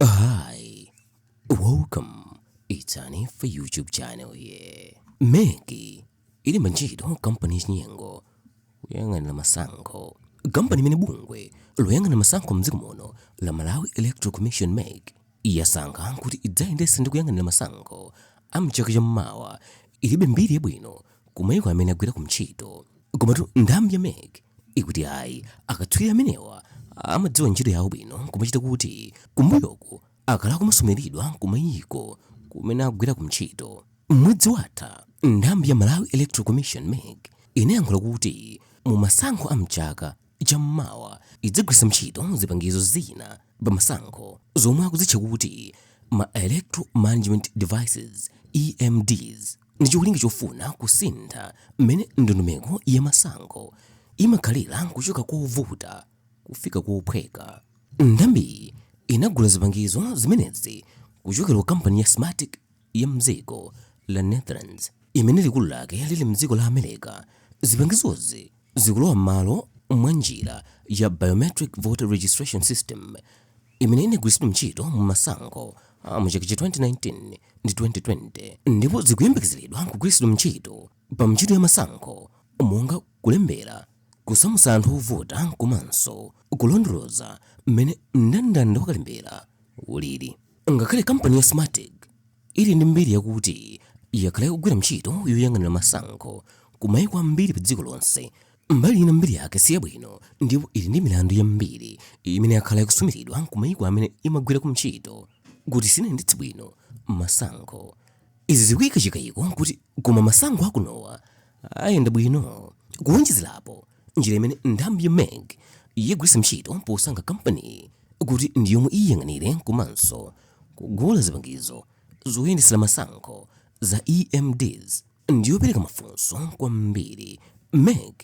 Hi, welcome. It's an Ifa YouTube channel here. MEC ilemba ntchito kampani yachinyengo kuyang'anira masankho kampani imene bungwe loyang'anira masankho mdziko muno la Malawi Electoral Commission MEC yasankha kuti idzayendetse ndi kuyang'anira masankho a mchaka cha mmawa ilibe mbiri yabwino ku mayiko amene agwirako ntchito komatu nthambi ya mec ikuti ayi akatswiri amenewa amadziwa ntchito yawo bwino kumachita kuti kumbuyoku akhala akumasumiridwa kumayiko kumene agwirako ntchito mwezi watha nthambi ya malawi electoral commission mec inayankhula kuti mu masankho a mchaka cham'mawa idzagwiritsa ntchito zipangizo zina pamasankho zomwe akuzitcha kuti ma electoral management devices EMDs ndi cholinga chofuna kusintha mmene ndondomeko ya masankho imakhalira kuchoka kovuta kufika kophweka. Nthambiyi inagula zipangizo zimenezi kuchokera ku kampani ya Smartmatic ya m'dziko la Netherlands imene likulu lake lili m'dziko la America, zipangizozi zikulowa m'malo mwa njira ya Biometric Voter Registration System imene inagwiritsidwa ntchito mu masankho a mu chaka cha 2019 ndi 2020 ndipo zikuyembekezeredwa kugwiritsidwa ntchito pa ntchito ya masankho monga kulembera, kusamutsa anthu ovota komanso kulondoloza mmene mndandanda wa kalembera ulili. Ngakhale kampani ya Smartmatic ili ndi mbiri yakuti yakhala ikugwira ntchito yoyang'anira masankho ku maiko ambiri pa dziko lonse, mbali ina mbiri yake si yabwino ndipo ili ndi milandu yambiri imene yakhala ikusumiridwa ku maiko amene imagwirako ntchito kuti sinayendetse bwino masankho. Izi zikuika chikaiko kuti koma masankho akunowa ayenda bwino. Kuonjezelapo, njira imene nthambi ya mec yagwiritsa ntchito posankha kampaniyi kuti ndi yomwe iyang'anire komanso kugula zipangizo zoyendetsela masankho za EMDs, ndiyopereka mafunso kwambiri mec.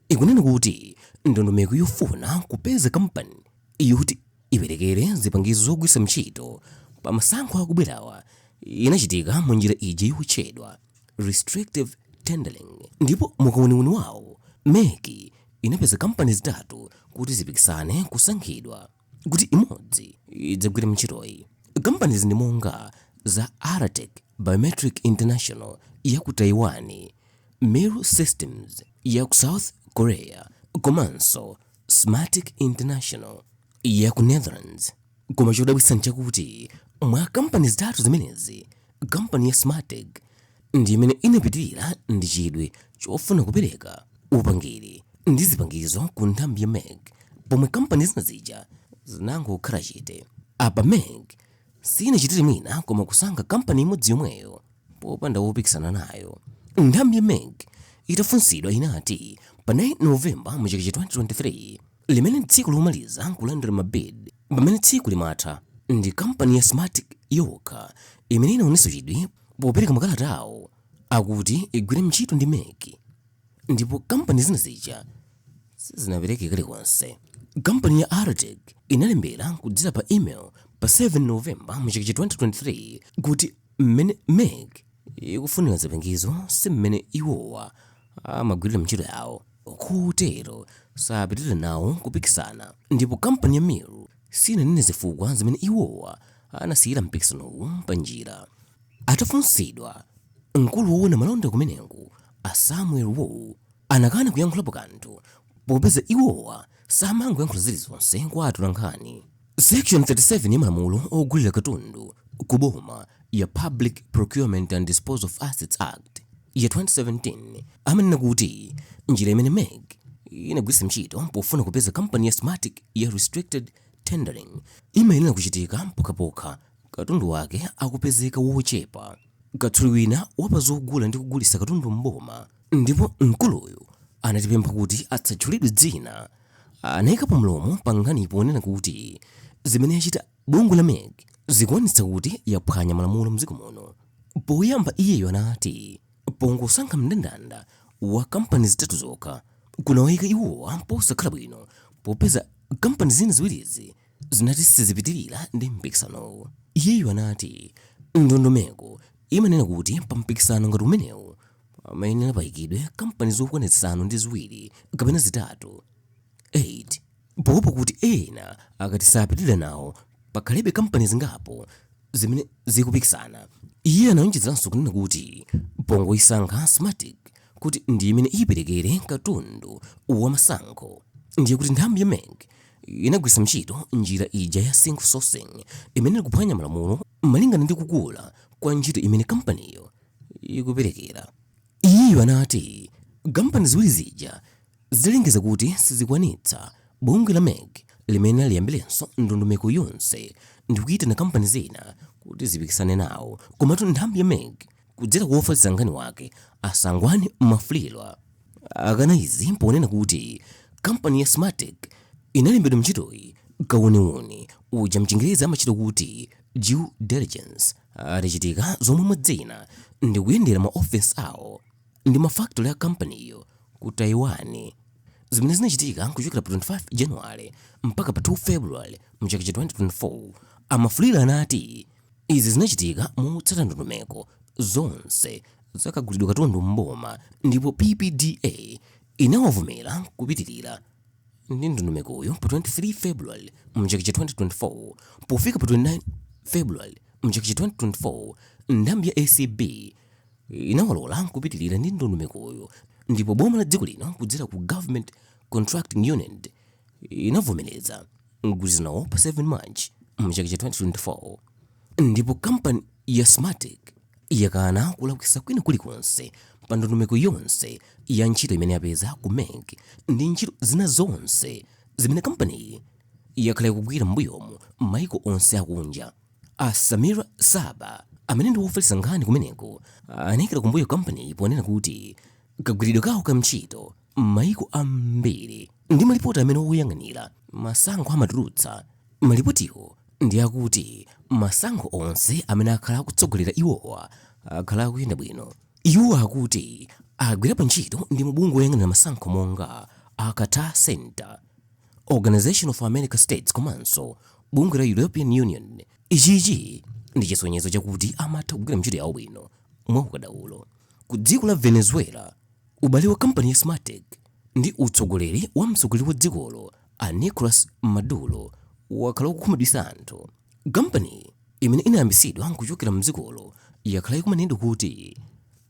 ikunena kuti ndondomeko yofuna kupeza kampani yoti iperekere zipangizo zogwiritsa ntchito pa masankho akubwerawa inachitika mu njira ija yotchedwa restrictive tendering, ndipo mukauniuni wawo mec inapeza kampani zitatu kuti zipikisane kusankhidwa. kuti imodzi idzagwire ntchitoyi kampanizi ndi monga za aratek biometric international ya ku taiwan miru systems ya ku south korea komanso smartmatic international ya ku netherlands koma chodabwitsa nchakuti mwa kampani zitatu zimenezi kampani ya smartmatic ndi imene inapitirira ndi chidwi chofuna kupereka upangiri ndi zipangizo ku nthambi ya mec pomwe kampani zina zija zinangokhala chete apa mec sinachitire mwina koma kusankha kampani imodzi yomweyo popanda wopikisana nayo nthambi ya mec itafunsidwa inati pa 9 novemba mu chaka cha 2023 limene tsiku lomaliza kulandira mabid pamene tsiku limatha ndi kampani ya smartmatic yokha imene inaonetsa chidwi popereka makalata awo akuti igwire ntchito ndi mec ndipo kampani zina zija sizinapereke kalikonse kampani ya aratek inalembera kudzera pa email pa 7 novemba mu chaka cha 2023 kuti mmene mec ikufunira zipangizo si mmene iwowa amagwirira ntchito yawo kotero sapitirira nawo kupikisana ndipo kampani ya Miru sinanene zifukwa zimene iwowa anasiyira mpikisanowu pa njira. Atafunsidwa, mkulu woona malonda kumeneko a Samuel Wu anakana kuyankhulapo kanthu popeza iwowa samangoyankhula zilizonse kwa atolankhani. Section 37 ya malamulo ogulira katundu ku boma ya Public Procurement and Disposal of Assets Act ya 2017 amanena kuti njira imene MEC inagwiritsa ntchito pofuna kupeza kampani ya Smartmatic ya restricted tendering imayenera kuchitika mpokhapokha katundu wake akupezeka wochepa. Katswiri wina wapa zogula ndi kugulitsa katundu m'boma ndipo mkuluyu anatipempha kuti asatchulidwe dzina Anaikapo mlomo pa nkhani ponena kuti zimene yachita bungwe la mec zikuonetsa kuti yaphwanya malamulo m'dziko muno. Poyamba iyeyo anati pongosankha mndandanda wa kampani zitatu zokha, kunawaika iwowa posakhala bwino popeza kampani zina ziwirizi zinati sizipitirira ndi mpikisanowu. Iyeyo anati ndondomeko imanena kuti pa mpikisano ngati umenewu, amayenera payikidwe kampani zokwana zisanu ndi ziwiri kapena zitatu 8 poopa kuti ena akati sapitirira nawo pakhalebe kampani zingapo zimene zikupikisana iye anawonjezeranso kunena kuti pongoyisankha smartmatic kuti ndi imene iperekere katundu wa masankho ndiye kuti nthambi ya mec inagwiritsa ntchito njira ija ya single sourcing imene ikuphwanya malamulo malingana ndi kukula kwa ntchito imene kampaniyo ikuperekera. Iyeyo anati kampani ziwiri zija zidalengeza kuti sizikwanitsa bungwe la mec limayenera liyambirenso ndondomeko yonse ndikuyitana kampani zina kuti zipikisane nawo komatu nthambi ya mec kudzera kwa ofalitsa nkhani wake a sangwani mwafulirwa akana izi ponena kuti kampani ya smartmatic inalembedwa ntchitoyi kawuniwuni uja mchingerezi amachita kuti due diligence Atachitika zomwe mwa zina ndi kuyendera maofesi awo ndi ma factory a kampaniyo ku Taiwan zimene zinachitika kuchokera pa 25 January mpaka pa 2 February mu chaka cha 2024, a Mwafulirwa anati izi zinachitika motsata ndondomeko zonse za kagulidwe katundu m'boma ndipo PPDA inawavomera kupitirira. ndi ndondomekoyo pa 23 February mchaka cha 2024 pofika pa 29 February mchaka cha 2024 nthambi ya ACB inawalola kupitirira ndi ndondomekoyo ndipo boma la dziko lino kudzera ku Government Contracting Unit inavomereza mgwirizanowo pa 7 March mchaka cha 2024 ndipo kampani ya Smartmatic yakana kulakwisa kwina kulikonse pa ndondomeko yonse ya ntchito imene yapeza ku MEC ndi ntchito zina zonse zimene kampaniyi yakhala ikugwira m'mbuyomu m'mayiko onse akunja. A Samira Saba amene ndi wofalitsa nkhani kumeneko anayikira kumbuyo kampaniyi ponena kuti kagwiridwe kawo ka ntchito M'mayiko ambiri ndi malipoti amene oyang'anira masankho amatulutsa, malipotiwo ndi akuti masankho onse amene akhala akutsogolera iwowa akhala akuyenda bwino. Iwo akuti agwirapo ntchito ndi mabungwe oyang'anira masankho monga a Carter Center, Organisation of America States komanso bungwe la European Union. Ichichi ndi chisonyezo chakuti amatha kugwira ntchito yawo bwino mwaukadaulo. Ku dziko la Venezuela. Ubale wa kampani ya Smartmatic ndi utsogoleri wa mtsogoleri wa dzikolo a Nicolas Maduro wakhala ukukhumudwitsa anthu. Kampaniyi imene inayambitsidwa nkuchokera mdzikolo yakhala ikumanenedwa kuti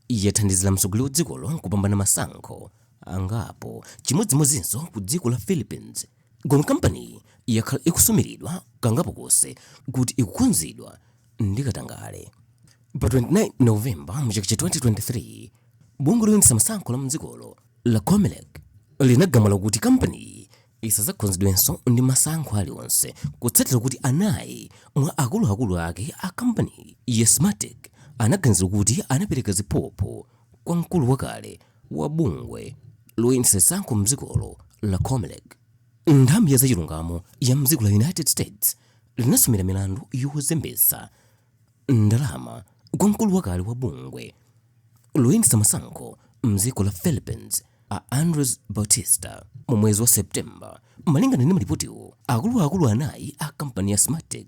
yathandizira mtsogoleri wa dzikolo kupambana masankho angapo, chimodzimodzinso ku dziko la Philippines. Koma kampaniyi yakhala ikusumiridwa kangapo konse kuti ikukhunzidwa ndi katangale. Pa 29 November mu chaka cha 2023, bungwe loyendetsa masankho la mdzikolo la Comelec linagamula kuti kampaniyi isazakhunzidwenso ndi masankho alionse kutsatira kuti anayi mwa akuluakulu ake a kampaniyi ya Smartmatic anaganizidwa kuti anapereka ziphuphu kwa mkulu wakale wa bungwe loyendetsa masankho mdzikolo la comelec nthambi ya zachilungamo ya mdziko la united states linasumira milandu yozembetsa ndalama kwa mkulu wakale wa bungwe loyendetsa masankho mdziko la philippines a andres bautista mu mwezi wa septemba malingana ndi malipotiwo akuluakulu anayi a kampani ya smartmatic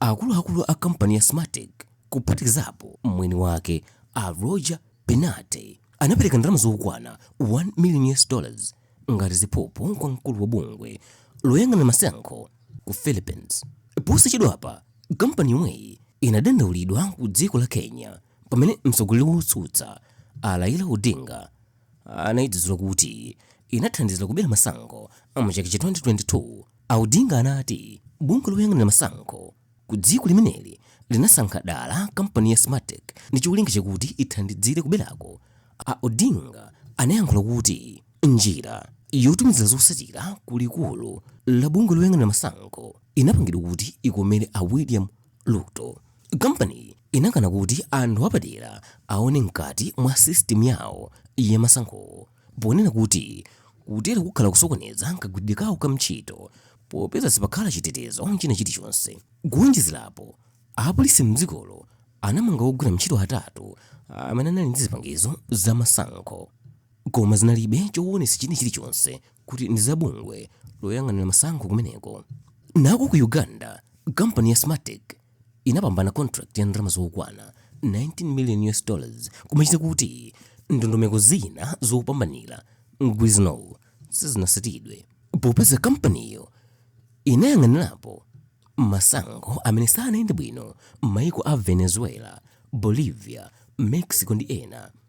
Akuluakulu a kampani ya Smartmatic, kuphatikizapo mwini wake, a Roger Piñate, anapereka ndalama zokwana 1 million US dollars ngati ziphuphu kwa mkulu wa bungwe loyang'anira masankho ku Philippines. Posachedwapa, kampani yomweyi inadandaulidwa ku dziko la Kenya pamene mtsogoleri wotsutsa, a Raila Odinga, anaidzuzula kuti inathandizira kubera masankho mu chaka cha 2022, a Odinga anati bungwe loyang'anira masankho ku dziko limeneli linasankha dala kampani ya Smartmatic ndi cholinga chakuti ithandizire kuberako. A Odinga anayankhula kuti njira yotumizira zotsatira ku likulu la bungwe loyang'anira masankho inapangidwa kuti ikomere a William Ruto. Kampaniyi inakana kuti anthu apadera aone mkati mwa sisitimu yawo ya masankhowo, ponena kuti kutero kukhala kusokoneza kagwiridwe kawo ka ntchito popeza sipakhala chitetezo china chilichonse. Kuwonjezera apo, apolisi m'dzikolo anamanga ogwira ntchito atatu amene anali ndi zipangizo za masankho koma zinalibe choonetsa china chilichonse kuti ndi za bungwe loyang'anira masankho kumeneko. Nako ku Uganda, kampani ya Smartmatic, inapambana contract ya ndalama zokwana 19 million US dollars kumachita kuti ndondomeko zina zopambanira mgwirizanowu sizinatsatidwe popeza kampaniyo inayang'anirapo masankho amene sanayende bwino m'mayiko a venezuela bolivia mexico ndi ena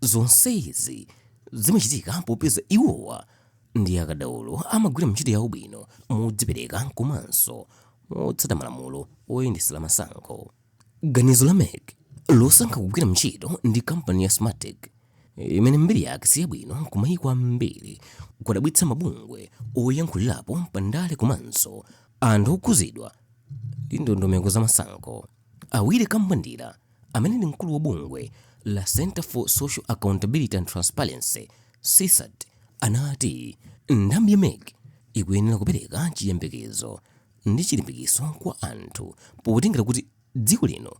Zonsezi zimachitika popeza iwowa ndi akadaulo amagwira ntchito yawo bwino modzipereka komanso motsata malamulo oyendetsera masankho. Ganizo la mec losankha kugwira ntchito ndi kampani ya Smartmatic imene mbiri yake si yabwino kumayiko ambiri, kwadabwitsa mabungwe oyankhulirapo pa ndale komanso anthu okhudzidwa ndi ndondomeko za masankho. A Willy Kambwandira, amene ndi mkulu wa bungwe la Centre for Social Accountability and Transparency, CSAT, anati nthambi ya mec ikuyenera kupereka chiyembekezo ndi chilimbikitso kwa anthu potengera kuti dziko lino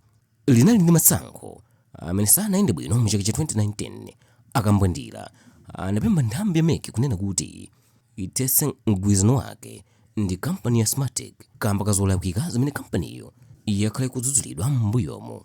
linali ndi masankho amene sanayende bwino mu chaka cha 2019. A Kambwandira anapempha nthambi ya mec kunena kuti ithetse mgwirizano wake ndi kampani ya Smartmatic kaamba ka zolakwika zimene kampaniyo yakhala ikudzudzulidwa m'mbuyomu.